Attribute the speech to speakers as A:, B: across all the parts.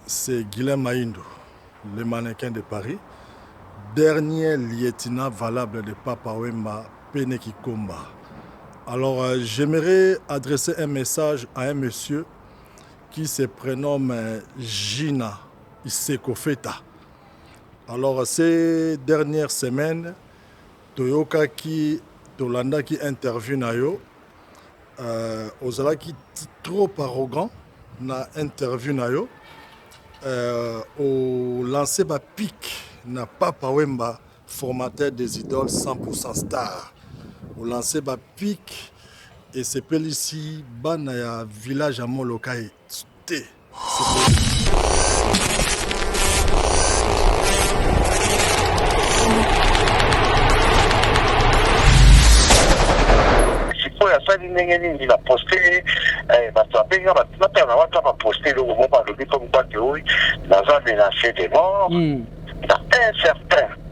A: C'est Guylain Maindu, le mannequin de Paris, dernier lieutenant valable de Papa Wemba Pene Kikomba. Alors, euh, j'aimerais adresser un message à un monsieur qui se prénomme euh, Gina Isekofeta. Alors, ces dernières semaines, toyokaki, tolandaki interview na yo Euh, ozalaki trop arrogant na interview na yo euh, olanse bapic na papa wemba formateur des idoles 100% star olanse bapic esepelisi bana ya village ya molokai te
B: sikoyo asali ndenge nini na poste eh, bato abenga bato natala na wata baposte eloko moko alobi comme quoi que oui naza menace de mort hmm. na un certain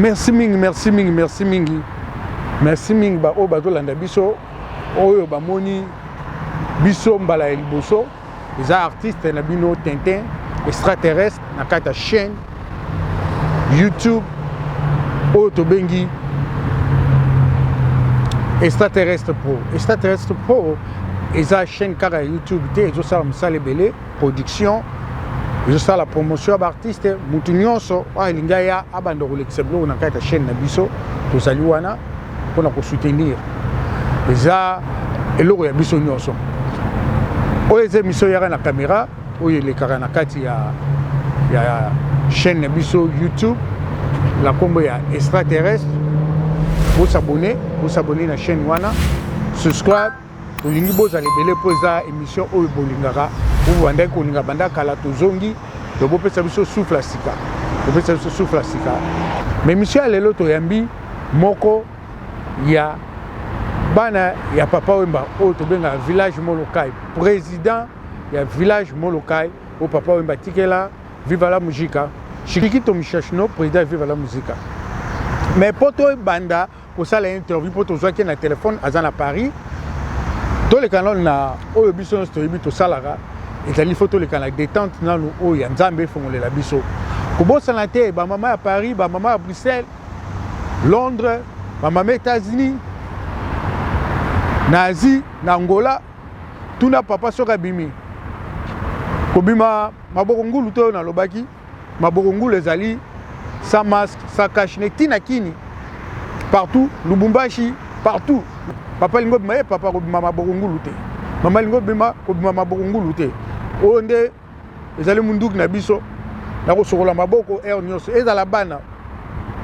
C: merci mingi merci mingi merci mingi merci mingi baoyo bazolanda biso oyo bamoni biso mbala ya liboso eza artiste na bino tintin extraterrestre na kati ya chaîne youtube oyo tobengi extraterrestre pro extraterrestre pro eza chaîne kaka ya youtube te ezosala mosala ebele production ezosala promotion ya baartiste motu nyonso oyo alingi aya abanda kolekisa biloko na kati ya chaîne na biso tozali wana mpo na kosoutenir eza eloko ya biso nyonso oyo eza emission yaka na caméra oyo elekaka na kati ya, ya chaîne na biso youtube na nkombo ya extraterrestre bosabone bosabone na chaîne wana subscribe tolingi bozala ebele mpo eza émission oyo bolingaka oyo bandaki kolinga banda kala tozongi to bopesa biso souffle ya sika bopesa biso souffle ya sika ma émission ya lelo toyambi moko ya bana ya papa wemba oyo tobengaka village molokai président ya village molokai oyo papa wemba atikela viva la mujika shikito mishashino président ya viva la muzika mais mpo toyebanda kosala interview mpo tozwaki na telefone aza na paris toleka nano na oyo biso nyonso toyebi tosalaka ezali fo toleka na détente nano oyo ya nzambe efongolela biso kobosana te bamama ya paris bamama ya bruxelles londres bamama états-unis na asie na angola tuna papa soki abimi kobima maboko ngulu to oyo nalobaki Maboko ngulu ezali sans masque, sans cache ne kina kini partout Lubumbashi partout papa lingo bima ye papa kobima maboko ngulu te mama lingo bima kobima maboko ngulu te oyo nde ezali munduki na biso na kosokola maboko heure nyonso ezala bana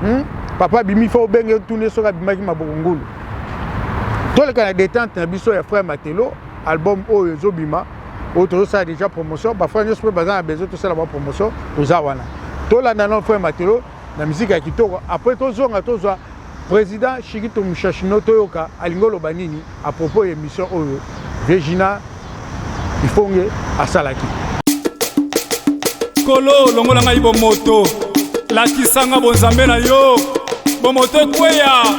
C: hmm? papa abimi fo obenge tuni soki abimaki maboko ngulu toleka na detente na biso ya frère matelo album oyo ezobima oyo tozosala deja promotion bafrère nyonso mpe baza na besoin tosala ba promotion toza wana tolanda na frère matelo na miziki ya kitoko après tozonga tozwa président shikito mushashino toyoka alingi oloba nini à propos ya émission oyo virgina ifonge asalaki
D: kolo longola ngai bomoto lakisanga bonzambe na yo bomoto ekweya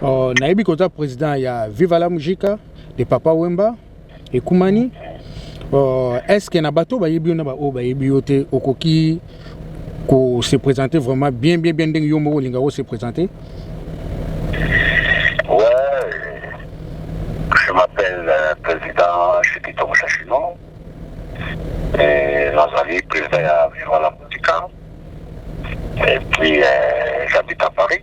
C: Oh, nayebi koza président ya Viva la Musica de Papa Wemba ekumani. Oh,
E: est-ce que na bato bayebi yo na ba oyo bayebi yo te okoki ko se présenter vraiment bien bien bien ndenge yo moko olinga ko se présenter?
B: Viva la Musica. Et puis, euh, j'habite à Paris.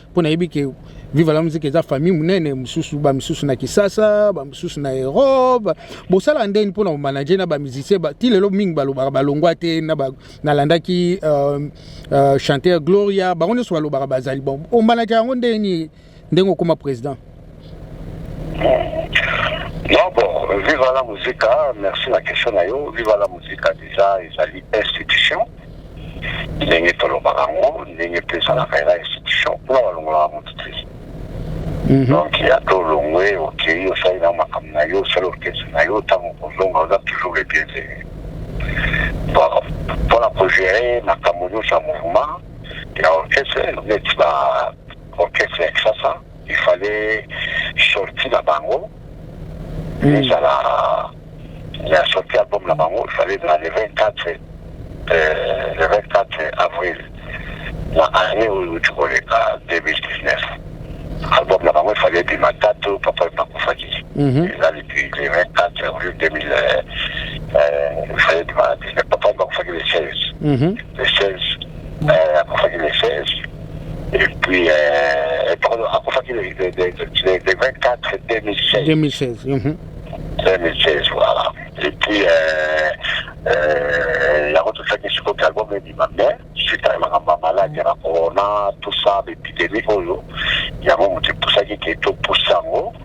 E: mpo nayebi ke viva la musique eza famille monene mosusu bamisusu na kisasa bamisusu na europe bosalaka ndeni mpo na komanage na bamusicien ti lelo mingi balobaka balongwa te nalandaki uh, uh, chanteur gloria bango nyonso balobaka bazali bon omanage yango ndeni ndenge okoma président
B: Non bon, viva la musica, merci na question na yo. Viva la musica deja ezali institution ndenge tolobaka yango ndenge mpe ezalaka eza institution mpona balongolaka moto te mhm. donc ya to olongwe okei osali na makambo na yo osali orkestre na yo ntango kozonga oza toujours le bienvenu mpona kogere makambo nyonso ya mouvement ya orkestre neti ba orkestre ya kisasa il fallait sortie na bango hmm. ezala la sortie album na bango il fallait na le 24 euh, le 24 avril na année oyo tokoleka 2019 album na bango efali ebima tato papa bakufaki mhm. eza depuis le 24 avril 2000 efali ebima papa bakufaki le 16 le 16 Euh, akufaki le 16 et puis euh, pardon, akufaki le, le, le, le, le 24 2016. 2016. Mm -hmm. 2016, voilà. Et puis, euh, euh, yango tosalaki sikoyo album ebima mais suite ya makambo ya maladi ya corona tout ça bepidemi oyo yango moto epusaki ke topusa yango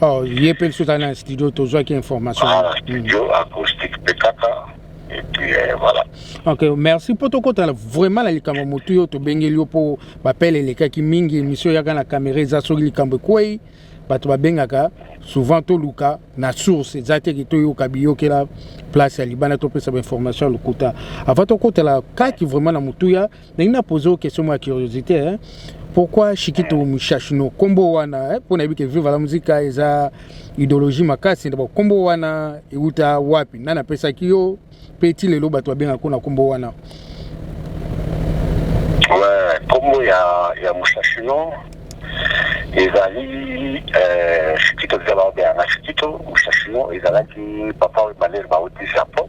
E: Oh, ye mpe lisusu azali na studio tozwaki information ah, studio mm.
B: acoustique mpe kaka eh, voilà. ok merci
E: mpo tokota vraiment na likambo motu yo tobengeli yo mpo bapele elekaki mingi emission yaka na kamera eza soki likambo ekwei bato babengaka souvent toluka na source eza te ke toyoka biyokela place ya libanda topesa bainformation ya lokuta avant tokotela kati vraiment na motuya nalingi na pose oyo question mwa curiosité hein? pourquoi shikito eh. mushashino nkombo wana mpo eh? nayebi ke viva la musica eza idéologie makasi ndabo nkombo wana euta wapi nani apesaki yo mpe ti lelo bato babengaka kuna nkombo wana nkombo
B: ya, ya mushashino ezali eh, shikito ezala babengaka shikito mushashino ezalaki papa oyo baleri bauti japon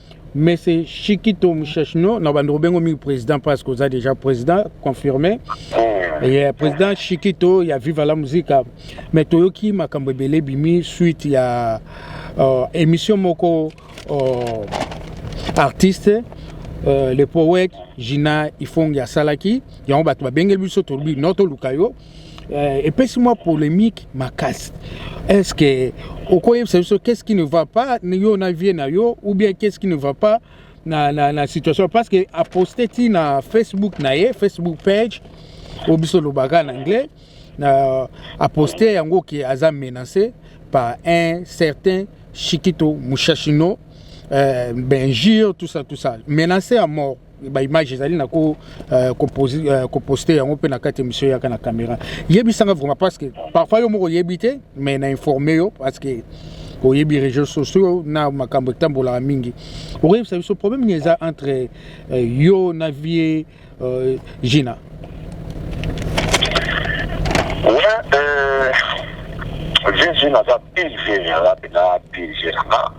E: mais c'est Chikito Mouchachno na bandeko bengo mingi président parce que oza déjà président confirmé ah. et euh, président Chikito ya Viva la Musica mais toyoki makambo ebele bimi suite ya euh, émission moko euh, artiste euh, le poète Gina Ifongi asalaki yango bato babengeli biso tolobi no toluka yo euh, epesi mwa polemique makasi est ce que okoyebisa biso qu'est ce qui ne va pas yo na vie na yo ou bien qu'est ce qui ne va pas na, na, na situation parce que aposte ti na facebook na ye facebook page oyo biso olobaka na anglais na aposte yango ke aza menacé par un certain chikito mushashino euh, benjure tout ça tout ça menacé à mort ba image ezali na ko euh, composer euh, ko poster yango pe na kati monsieur yaka na camera yebisa nga vraiment parce que parfois yo moko yebi te mais na informer yo parce que oyebi réseaux sociaux na makambo etambolaka mingi okoyebisa biso problème nini eza entre euh, yo na vie euh, gina
B: ouais, euh, vie gina aza pile vie aza pena pile gina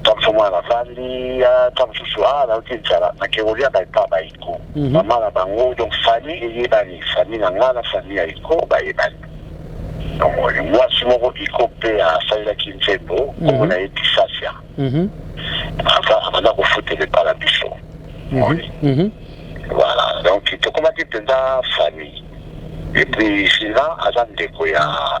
B: ntango mosusu mwana nafandi ntango mosusu a nauti nzala nake koliaka epa baiko mama na bango donc famille eyebani famille na ngai na famille ya iko bayebani mwasi moko iko mpe asalelaki nzembo nkombo na ye disasia abanda kofutela epa na biso voilà donc tokomaki mpenza famille epuis sila aza ndeko ya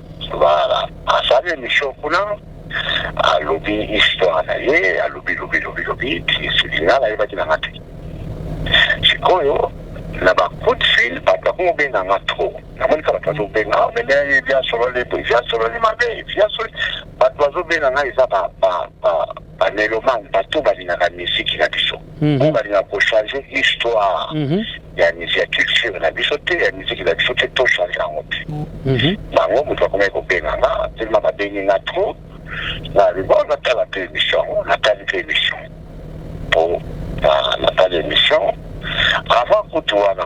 B: Voilà asali emission kuna alobi histoire na ye alobi lobi lobi lobi esili nga nayebaki na nga te sikoyo na ba coup de fil bato bakomi kobenga nga trop namonisa bato bazobenga ah, meme via sololi via sololi mabe via sololi bato bazobenga nga eza ba ba melomane bato balingaka miziki na biso oyo balingaka kochange histoire ya ya culture na biso te ya miziki na biso te to change yango te bango moto bakomaki kobenga nga telema babengi nga trop na libo natala mpe émission yango natali mpe émission mpo natali émission avant kutu wana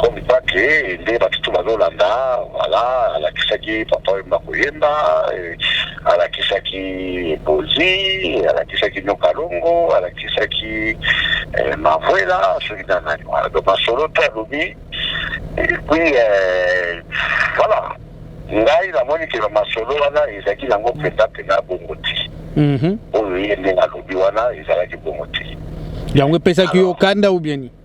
B: comme quoi que nde batu to bazolanda voilà alakisaki papa oyemba koyemba alakisaki bozi alakisaki nyokalongo alakisaki eh, mavuela soki na nani wana donc masolo te alobi et puis eh, voilà ngai namoni ke masolo wana ezalaki nango mpenza mpenza bongo te mhm. oyo ye ndenge alobi wana ezalaki bongo te yango epesaki
E: yo kanda ou bien nini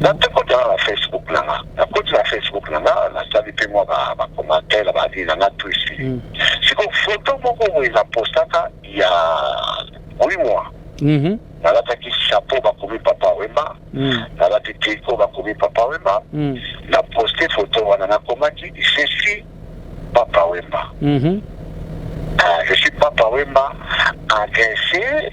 B: na te kota na Facebook na nga na koti na Facebook na nga na sali pe mwa ba ba commentaire ba vie na nga tout ici mm. siko photo moko boye na postaka ya oui moi mm -hmm. nalataki chapeau bakomi papa wemba mm. nalati triko bakomi papa wemba mm. na poste photo wana nakomaki je suis papa wemba mm -hmm. uh, je suis papa wemba agressé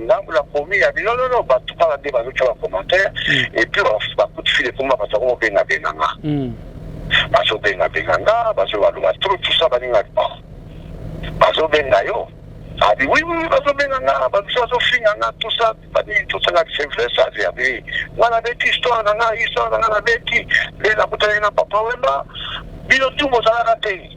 B: Ngambo na komi ya bino nono bato kaka nde bazotya ba commentaire epuis basusu bakuti file ekoma bato yango bobenga benga nga bazobenga benga nga bazobaloba tro tusa baninga ba bazobenga yo abi wi wi bazobenga nga babiso bazofinga nga tusa banini tosanga sevres abi abi nga nabeti histoire na nga histoire na nga nabeti nde nakutanaki na papa wemba bino tu bozalaka te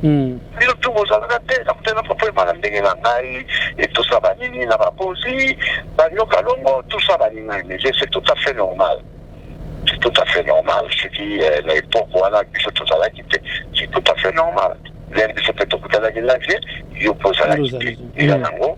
B: Mm. bino mpe bozalaka te na kutana kopema na ndenge na ngai etosa banini na bakonzi banyoka longo tosa baningani mais c'est tout à fait normal c'est tout à fait normal soki euh, na epoque wana biso tozalaki te c'est tout à fait normal lere biso mpe tokutanaki na vie yo mpe ozalaki te Ozalaki. eza nango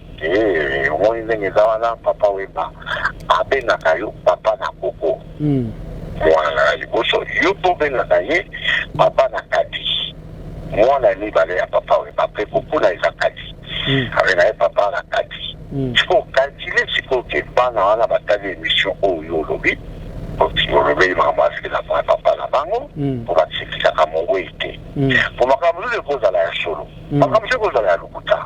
B: Eh, omoni ndenge eza wana papa wemba abengaka yo papa na koko hmm. mwana ya liboso yo mpe obengaka ye papa na kati mwana ya mibale ya papa wemba mpe koko na eza kati hmm. abenga ye papa na kati hmm. sikoyo kalkile sikoyo ke bana wana batali émission oyo olobi olobeli makambo aziki na mwa papa na bango mpo basekisaka mongwei te mpo makambo nini ekozala ya solo makambo se ekozala ya lokuta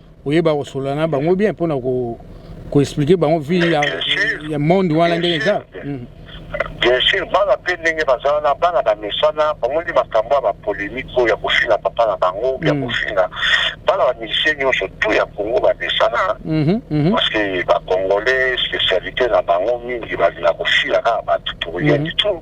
E: oyeba kosolola na bango bien mpona koexplike bango vi ya monde wana ndenge eza mm. bien
B: sûr bana mpe ndenge bazala na bana bamesana bango nde makambo ya bapolemike oyo ya kofinga papa na bango ya mm. kofinga bana bamusicien nyonso tu ya kongo bamesana mhm, mhm. parce que bacongolais spécialité na bango mingi balinga kofila kaka bato pour rien mhm. du tout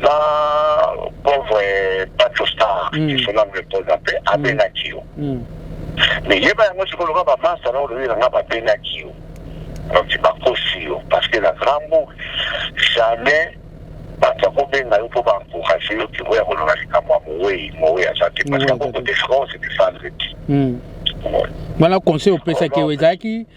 B: Na pauvre Pacho Star, mm. que son âme repose en paix, abengaki yo. Mais yeba yango sikoyo loka ba masta na olobi na nga babengaki yo. Donc bakosi yo parce que na grand book jamais bato akobenga yo mpo baencourage yo ke oya kolona likambo ya mowei mowei aza te parce que akokote france defendre te
E: wana conseil opesaki yo ezalaki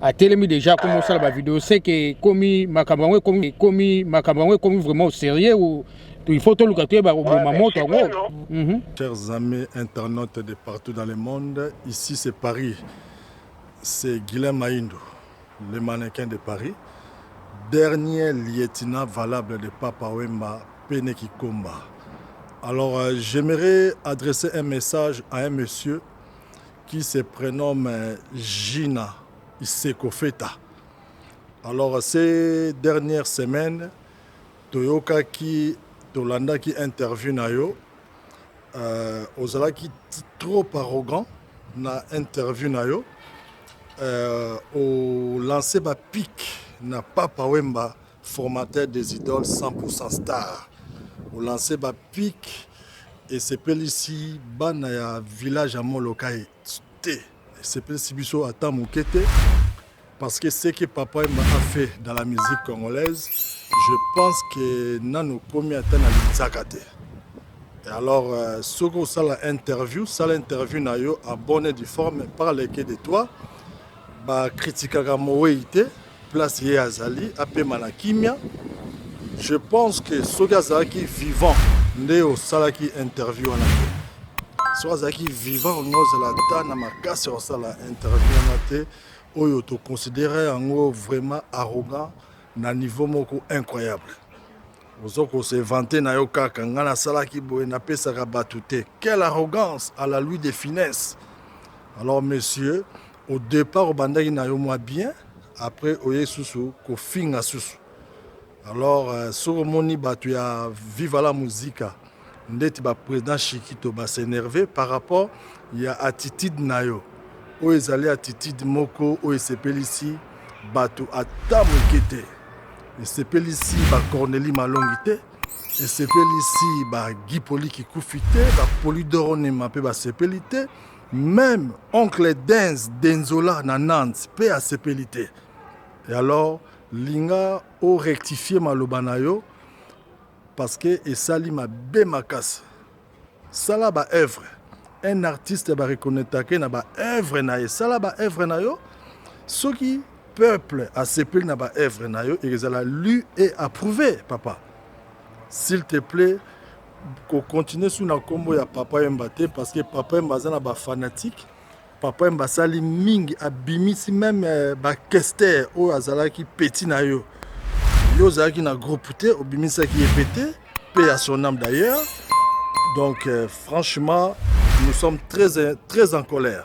E: atelemi deja akomi osala ba video seke ekomi makambo yango ekomi ekomi makambo yango ekomi vraiment sérieux ou il faut toluka toyeba koboma moto yango mhm.
A: chers amis internautes de partout dans le monde ici c'est paris c'est guilain maindo le mannequin de paris dernier lieutenant valable de papa wemba pene kikomba alors euh, j'aimerais adresser un message à un monsieur qui se prenomme Gina Isekofeta. Alors ces dernières semaines toyokaki tolandaki interview na yo euh, ozalaki trop arrogant na interview na yo euh, olanse bapic na papa wemba formateur des idoles 100% star olanse bapike esepelisi bana ya village ya molokai te esepelisi biso ata moke te parce que ce que papa emba a fait dans la musique congolaise je pense que nano komi ata na linzaka te Et alors euh, soki osala interview sala interview na yo abonne du forme parle que de toi bakritikaka mowei te place ye azali apema na kimia je pense que soki azalaki vivant nde osalaki interview wana te soki azalaki vivant olingi ozala ata na makasi ya kosala interview wana te oyo toconsidere yango vraiment arrogant na niveau moko incroyable ozo kose vante na yo kaka ngai nasalaki boye napesaka bato te quelle arrogance à la lui de finesse alors monsieur Au depart obandaki na yo mwa bien après oye susu kofinga susu alors euh, soki omoni bato ya viva la musica ndeti ba président chikito ba s'énerve par rapport ya attitude na yo oyo ezali attitude moko oyo esepelisi bato ata moke te esepelisi ba corneli malongi te esepelisi ba guipoli kikufi te ba polidoro nema mpe basepeli te Meme oncle Denz Denzola na Nantes pe asepeli te. Et alors linga o rectifier maloba na yo parce que esali mabe makasi. Sala ba œuvres. Un artiste ba reconnaître na ba œuvres na ye. Sala ba œuvres na yo. Soki peuple asepeli na ba œuvres na yo ekozala lu et approuvé papa. S'il te plaît ko continuer sous na kombo ya papa Emba te parce que papa Emba aza na ba fanatiques papa Emba asali mingi abimisi meme euh, ba kester oyo azalaki petit na yo yo ozalaki na groupe te obimisaki ye pe te pe ya son âme d'ailleurs donc euh, franchement nous sommes très très en colère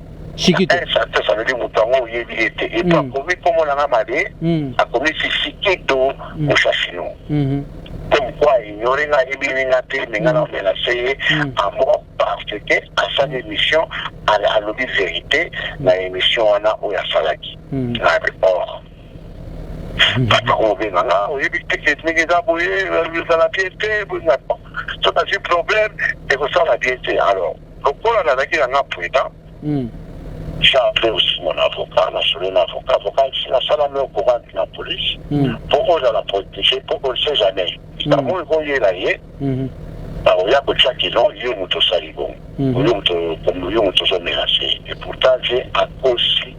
B: Shikito. Eh, Santos alobi moto yango oyebi ye te epo Mm. akomi nkombo na nga mabe Mm. akomi sisikito Mm. mushashino Mhm. comme quoi ignore nga ayebini nga te me nga naomela se ye Mm. amoko parce que asali émission ala- alobi vérité na émission wana oyo asalaki Mm. nabe or bato akobenga nga oyebi te ke ndenge eza boye ezala bien te boye nga soki azwi problème ekosala bien te alors Lokola nazalaki na nga prudent, j'ai appelé aussi mon avocat, na solo na avocat, avocat si na sala meo courante na police, po ozala protéger, po on sait jamais. Bango ekoyela ye, bakoya kotia kino yo moto osali bongo, yo moto ozo menacer. Et pourtant j'ai akosi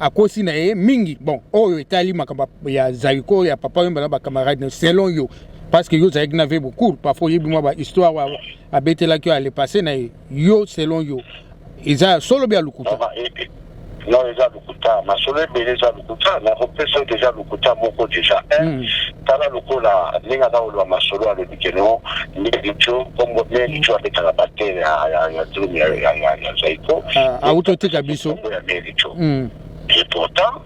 E: akosi na ye mingi bon oyo etali makambo ya zaiko ya papa wemba na bacamarade selon yo parce que yo ozalaki na vebo cour parfois oyebi mwa bahistoire wa abetelaki yo alepasse na ye yo selon yo eza ya solo bya lokuta non eza lokuta
B: masolo ebele eza lokuta nakopesa yo deja lokuta moko deja hmm. Tala lokola ndenge aza koloba masolo alobi ke non nde lijo kombo nde lijo abetaka batere ya drum ya zaiko auto
E: tika biso kombo ya meri jo
B: et pourtant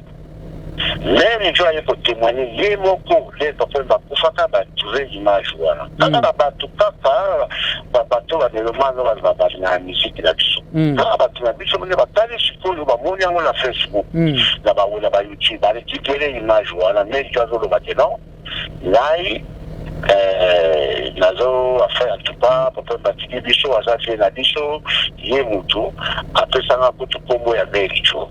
B: meri jo aye kotemoigne ye moko le papa bakufaka batrouve image wana kaka na bato kaka bato ba melomane oyo bazala bato na miziki na biso mm. kaka bato na biso mone batali sikoyo bamoni yango na facebook mm. na bango na bayoutube barekipere image wana meki azoloba te non ngai eh, nazo afin en tout cas papa batiki biso aza vie na biso ye motu apesanga kutu nkombo ya merico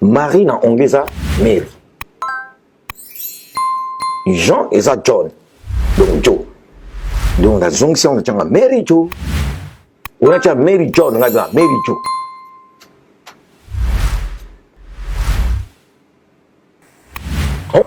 F: Marie na ongi eza Mary. Jean eza John. Donc Joe. Donc na zong si on a changa Mary Joe. On a changa Mary John, on a changa Mary Joe.
G: Oh.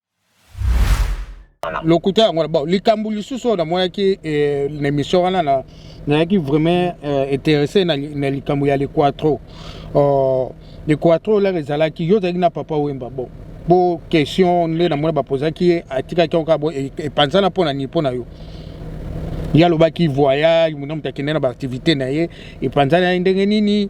E: lokuta yango bon likambo lisusu oyo namonaki eh, na émission wana na nayaki vraiment eh, intéressé na, na likambo ya lequatro uh, lequatro olaka ezalaki yo ozalaki na papa wemba bon bo question nde namoni bapozaki ye atikaki yango kaka bo e, epanzana mpo na nini mpo na yo ye alobaki voyage mona moto akende na baaktivité na ye epanzana ye ndenge nini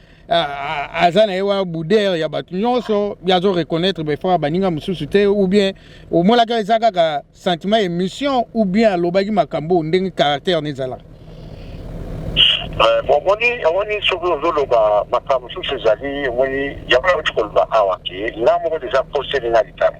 E: aza na ye wana boudere ya bato nyonso ye azo reconnaître befra baninga mosusu te ou bien omonaka eza kaka sentiment ya émission ou bien alobaki makambo oyo ndenge caractère nezalaka euh,
B: omoni omoni soki ozoloba makambo mosusu ezali omoni yango nauti koloba awa ke nga moko deja poseli na likambo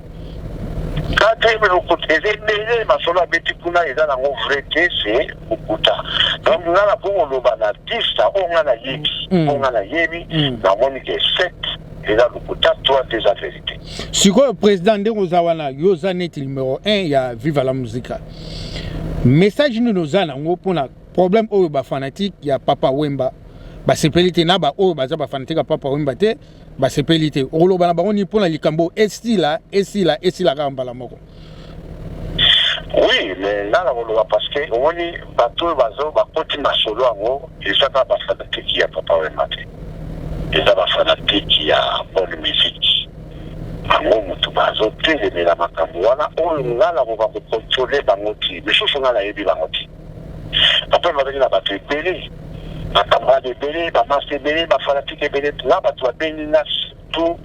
B: Quatrième lokuta eza ebele masolo abeti kuna eza nango vrai te se lokuta donc nga na kongo loba na 10 na oyo nga nayebi mm. oyo nga nayebi mm. namoni ke 7 eza lokuta 3 te eza verité sikoyo président
E: ndenge oza wana yo oza neti numero 1 ya viva la musica message nini oza nango mpona problème oyo bafanatique ya papa wemba basepeli te na baoyo baza bafanatique ya papa wemba te basepeli te okoloba na bango nini mpo na likambo esila esila esila kaka mbala moko oui
B: mais nga nakoloba parce que omoni bato oyo bazo bakoti masolo yango eza kaka bafanatiki ya papa wema te eza bafanatiki ya bonne musique bango motu bazotelemela makambo wana oyo nga nakoka kokontrole bango ti misusu nga nayebi bango ti Papa bazali na bato ebele, ba camarade ebele, ba masta ebele, ba fanatique ebele. Nga bato babengi nga surtout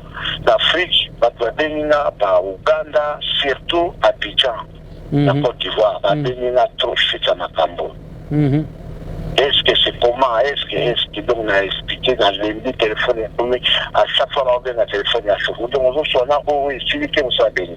B: na Afrique, bato babengi nga ba Ouganda, surtout Abidjan na Cote d'Ivoire, babengi nga trop chute ya makambo. Est-ce que c'est comment? Est-ce que est-ce que donc na expliquer na lembi telephone ekomi à chaque fois baobenga telephone ya chute donc ozoswana oyo esili te mosala beni.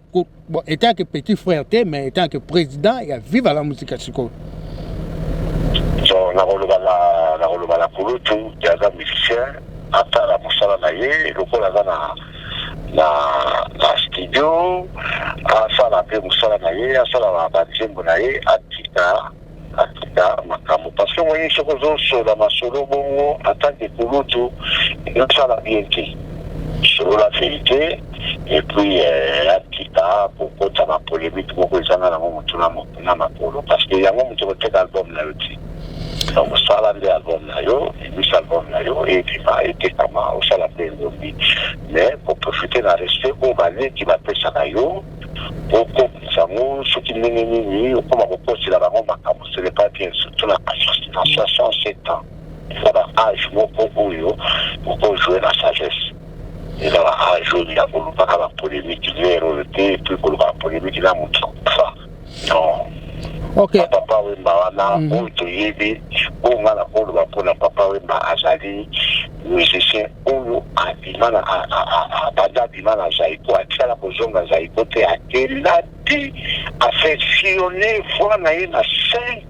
E: Ko, bon, étant que petit frère te mais étant que président ya viva la musica sikoyo
B: so nakoloba na nakoloba na kulutu te aza musicien atala mosala na ye lokola aza na na na studio asala mpe mosala na ye asala banzembo na ye atika Akita makambo parce que omoni soki ozosola masolo bongo en tant que kulutu ezosala bien te solola verite et puis euh, akita kokota na polemique moko ezanga nango motu na mo- na makolo parce que yango moto koteka album na yo te donc osala nde album na yo ebisa album na yo ebima etekama osala mpe elongi mais koprofite na respect oyo baleki bapesaka yo okokisa yango soki ndenge nini okoma kokosela bango makambo ce n'est pas bien surtout na 67 ans eza ba age moko oyo okojoue na sagesse eza ba age oyo ya kolobaka ba polemique lere oyo te epuis kolobaka polemique na moto akufa okay.
E: papa wemba wana
B: mm -hmm. oyo toyebi oyo nga nakoloba mpona papa wemba azali musicien oyo abima na banda abima na zaiko atikala kozonga zaiko te akenda te afectionne voi na ye na cinq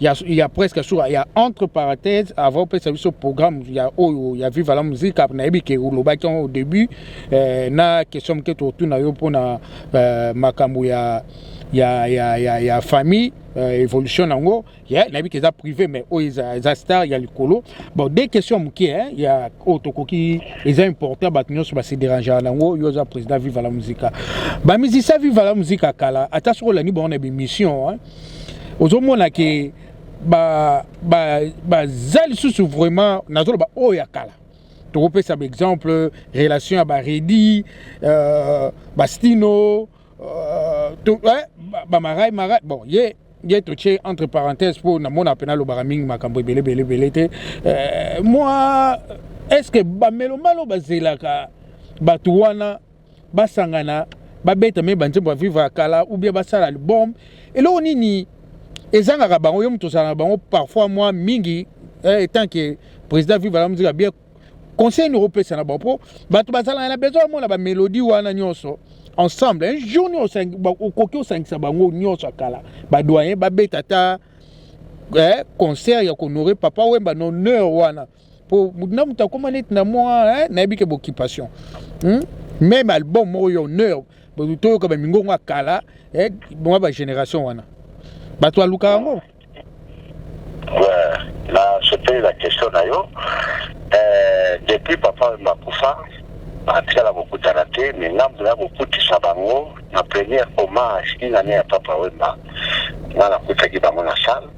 E: ya, ya presque sur ya entre parenthèse avant opesa biso programme ya oyo ya viva la musique nayebi ke olobaki au début eh, na question moke totuna yo mpona eh, makambo ya ya, ya, ya, ya famille euh, évolution nango yeah, nayebi ke eza privé mais oyo eza, eza star ya likolo bon de question ya moke eh, ya oyo tokoki eza important bato nyonso base derangea nango yo oza président viva la musica bamizisa viva la musica kala ata soki olandi bango na bemission eh, ozomona ke baza ba, ba, ba lisusu vraiment nazoloba oyo ya kala tokopesa baexemple relation ya baredi euh, bastino euh, to, eh, bamarai marai bon ye yeah. ye totie entre parenthèse mpo namona mpe nalobaka mingi makambo ebele ebele ebele te euh, mwa est ce que bamelomalo bazelaka bato wana basangana babeta me banzembo ya vivre ya kala ou bien basala album eloko nini ezangaka bango yo moto ozala na bango parfois mwa mingi eh, etant ke président vive la musique bien conseil nini okopesa na bango mpo bato bazalaka na besoin bamona bamélodie wana nyonso ensemble un jour nyonso okoki osangisa bango nyonso ya kala badoyen babeta ata eh, concert ya kohonore papa wemba na honneur wana po na moto akoma neti na mwa nayebi ke boccupation hmm? meme album moko ya honneur toyoka bamingongo ya kala eh, mwa bagénération wana bato baluka yango
B: nasepeli na question na yo eh, depuis papa makufa atikala kokutana te me ngambo ya kokutisa bango na première hommage inane ya papa wemba nga nakutaki bango na salle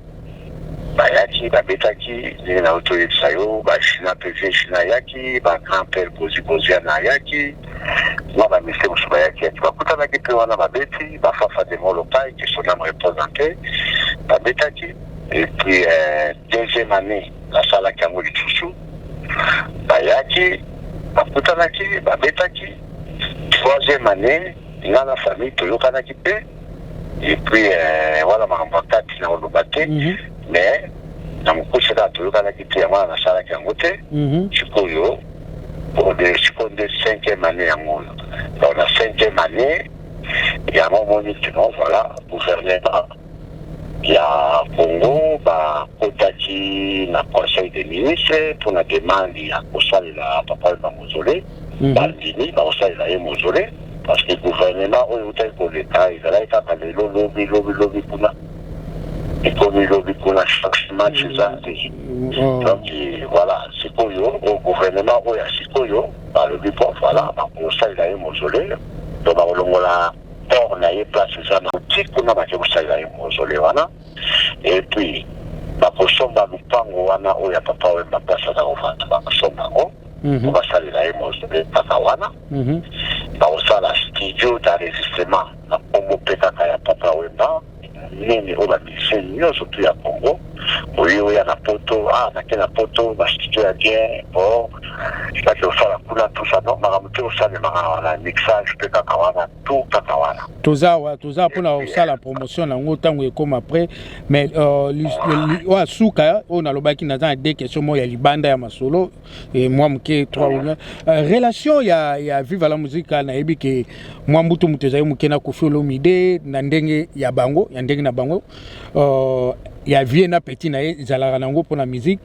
B: Bayaki babetaki ndenge na yo toyebisa yo ba Shina pe vieux Shina ayaki ba grand père Bozi Boziana ayaki na ba misie mosusu bayaki yaki bakutanaki pe wana babeti ba Fafa de Molokai que son ame repose en paix babetaki et puis euh, deuxième année nasalaki yango lisusu bayaki bakutanaki babetaki troisième année nga na famille toyokanaki pe et puis euh, wana makambo ya kati na koloba te mhm. mais na mokuse kaka toyokanaki te yango wana nasalaki yango te mhm. sikoyo sikoyo nde cinquième année yango oyo donc na cinquième année yango omoni kino voilà gouvernement ya congo bakotaki na conseil des ministres mpo na demande ya kosalela papa bango zole bandimi bakosalela ye mozole parce que gouvernement oyo eutaki koleka ezalaki kaka lelo lobi lobi lobi kuna ekomi lobi kuna chaque match eza te oh. donc voilà sikoyo oh, gouvernement oyo ya sikoyo balobi po voilà bakosalela ye mozole to bakolongola port na ye place eza na oti kuna bake kosalela ye mozole wana epuis bakosomba lupango wana oyo ya papa wemba place aza kovanda bakosomba yango po mhm. basalela ye mosole kaka wana mhm. bakosala studio d'enregistrement na nkombo mpe kaka ya papa wemba nini oyo bamisie nyonso tu ya congo oye oya na poto a ah, nake na poto bastudio ya bien o bake osala kuna tusa no makambo te osalemaka na mixage mpe kaka wana to kaka wana toza awa toza mpona
E: kosala promotion nango ntango ekoma après mais euh, oyo asuka oyo nalobaki naza na de question moko ya libanda ya masolo mwa moke 3 euh, relation ya, ya viva la musica nayebi ke mwa mbutu moto ezali moke na kofi olomide na ndenge ya bango ya ndenge na bango uh, ya vie na petit na ye ezalaka nango mpo na musique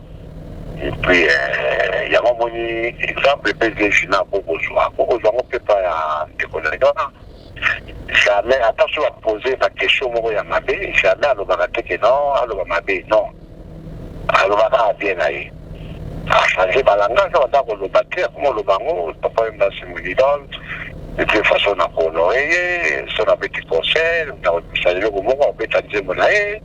B: Epuis eh, yango omoni exemple mpe zeji na bokozwa bokozwa yango mpe epai ya ndeko na wana jamais ata soki bapose na question moko ya mabe jamais alobaka te ke non aloba mabe non alobaka kaka bien na ye achange balangage awa nda koloba te akoma oloba yango papa ye mbasi molidol de toute façon nakohonorer ye so nabeti concert nakobisa eloko moko abeta nzembo na ye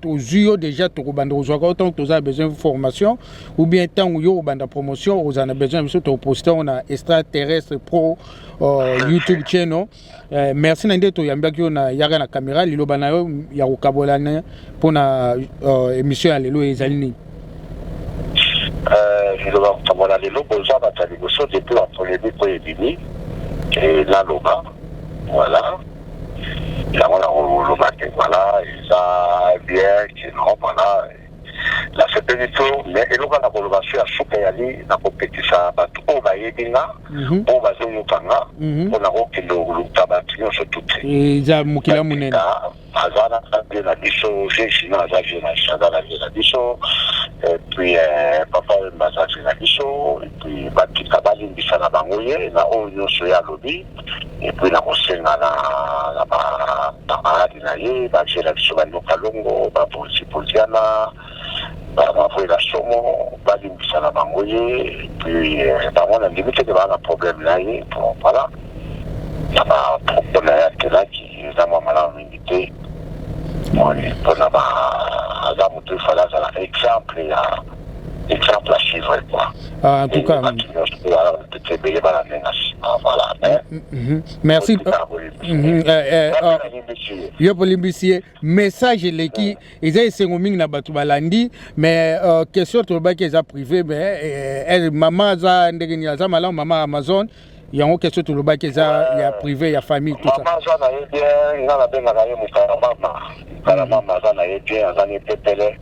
E: tozwi yo deja tokobanda kozwaka yo ntango toza na besoin formation ou bien ntango yo obanda promotion okozala na besoin ya biso tokoposte yango na extra terrestre pro uh, youtube channel uh, merci na nde toyambaki yo na yaka na caméra liloba na yo ya kokabolana mpo na uh, émission ya lelo ezali nini Euh,
B: liloba kokamwa na lelo boza bato ya liboso depuis ba polemique oyo ebimi eh, naloba voilà yango na koloba te voilà eza bien kino voilà nasepeli to mais eloko na koloba so ya suka eyali na kopekisa bato oyo bayebi nga mhm. oyo bazoyoka nga mpo mhm. na kokende koluta bato nyonso tuti eza mokili ya
E: monene aza na
B: vie na biso vieux Gina aza vie na biso aza na vie na biso et puis euh, papa Wemba aza vie na biso et puis batika balimbisa na bango ye na oyo nyonso ye alobi et puis na kosenga na na ba camarade na ye bavieux na biso banyoka longo bapolisi poliana bavela somo balimbisa na bango ye et puis euh, bango na ndimi te ke baa na problème na ye po voilà na ba propos na ye akelaki eza mwa malamu mingi te moni mpona ba aza moto efale azala exemple ya
E: exemple à suivre quoi. Ah, en tout cas. Merci. Yo polimbisi ye message eleki eza esengo mingi na bato balandi mais euh, question tolobaki eza privé mais eh, eh, mama aza ndenge nini aza malamu mama amazon yango question tolobaki eza ya privé ya famille tout ça mama aza na ye bien
B: nga nabengaka ye mokala mama mokala mama aza na ye bien aza na epepele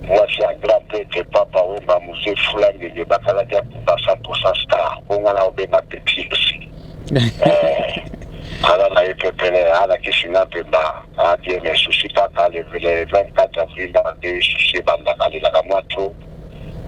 B: mwasi ya grand prêtre papa wemba mose fula ngenge bakalaki ya kuba 100 star bonga na obenga petit aussi aza na ye pepele alakisi nga mpemba adie mais souci kaka le 24 avril nde souci ebandaka lelaka mwa trop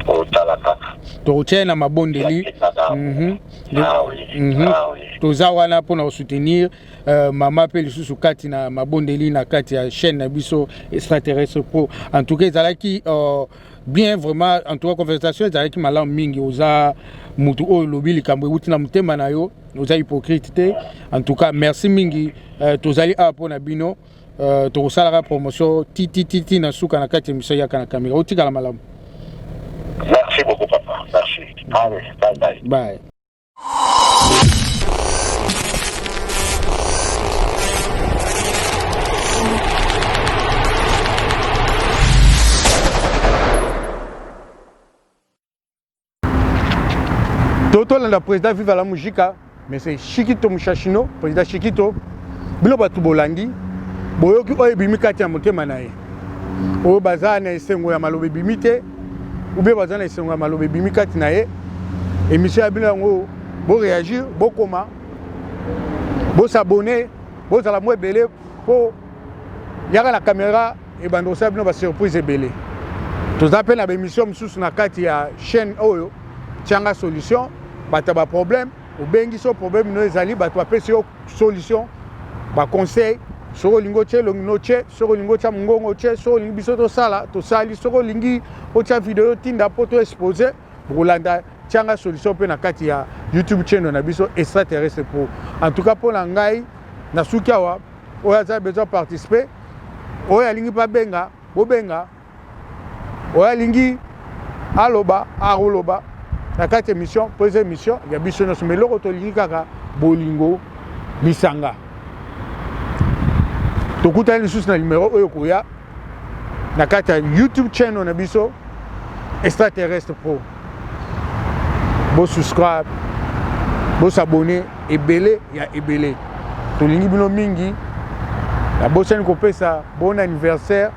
B: kotala kaka tokotya ye na
E: mabondeli mhm. ah mhm. ah toza wana mpo na kosoutenir euh, mama mpe lisusu kati na mabondeli na kati ya chaîne na biso extraterrestre pro en tout cas ezalaki euh, bien vraiment en tout cas conversation ezalaki malamu mingi oza motu oyo olobi likambo euti na motema na yo oza hypocrite te en tout cas merci mingi euh, tozali awa mpo na bino Euh, tokosalaka promotion titititi na suka na kati ya miso yaka na kamera otikala malamu merci
B: beaucoup papa merci allez bye bye bye
C: to tolanda président viva la mujika mais c'est shikito mushashino président shikito bino bato bolandi boyoki oyo ebimi kati ya motema na ye oyo baza na esengo ya maloba ebimi te oubien baza na esengo ya maloba ebimi kati na ye émission ya bino yango boréagir bokoma bosabone bozala mwa ebele mpo yaka na camera ebanda kosala bino basurprise ebele toza mpe na baemission mosusu na kati ya chaîne oyo tianga solution bato ya baproblème obengisi yo problème no ezali bato bapesi yo solution baconseil soki olingi otya elongi no tye soki olingi otya mongongo tye soki olingi biso tosala tosali soki olingi otya video otinda mpo to expose bokolanda tianga solution mpe na kati ya youtube channel na biso extraterrestre pro en tout cas mpo na ngai nasuki awa oyo aza besoin participer oyo alingi mpe abenga bobenga oyo alingi aloba akoloba na kati émission mpo eza émission ya biso nyonso ma eloko tolingi kaka bolingo lisanga tokutani lisusu na nimero oyo koya na kati ya youtube channel na biso extraterrestre pro bosubscribe bosabone ebele ya ebele tolingi bino mingi nabosani kopesa bon anniversaire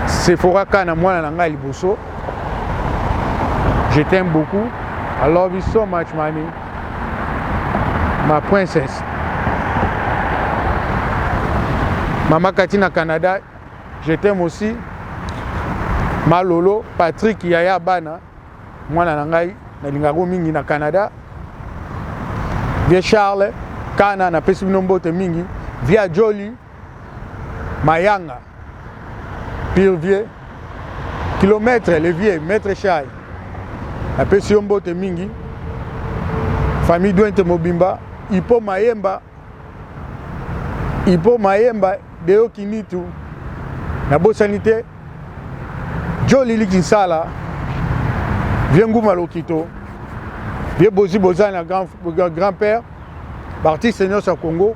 C: sephora ka na mwana na ngai liboso je t'aime beaucoup i love you so much mami ma princesse mama kati na canada je t'aime aussi malolo patrick yaya bana mwana na ngai nalingako mingi na canada vie charles kana napesi bino mbote mingi via joli mayanga pire vieux kilomètre le vieux maître chai napesi yo mbote mingi famille duente mobimba ipo mayemba ipo mayemba deyo kinitu nabosani te jolili kinsala vie nguma lokito vie bozi bozali na grand, grand père baartiste nyonso ya congo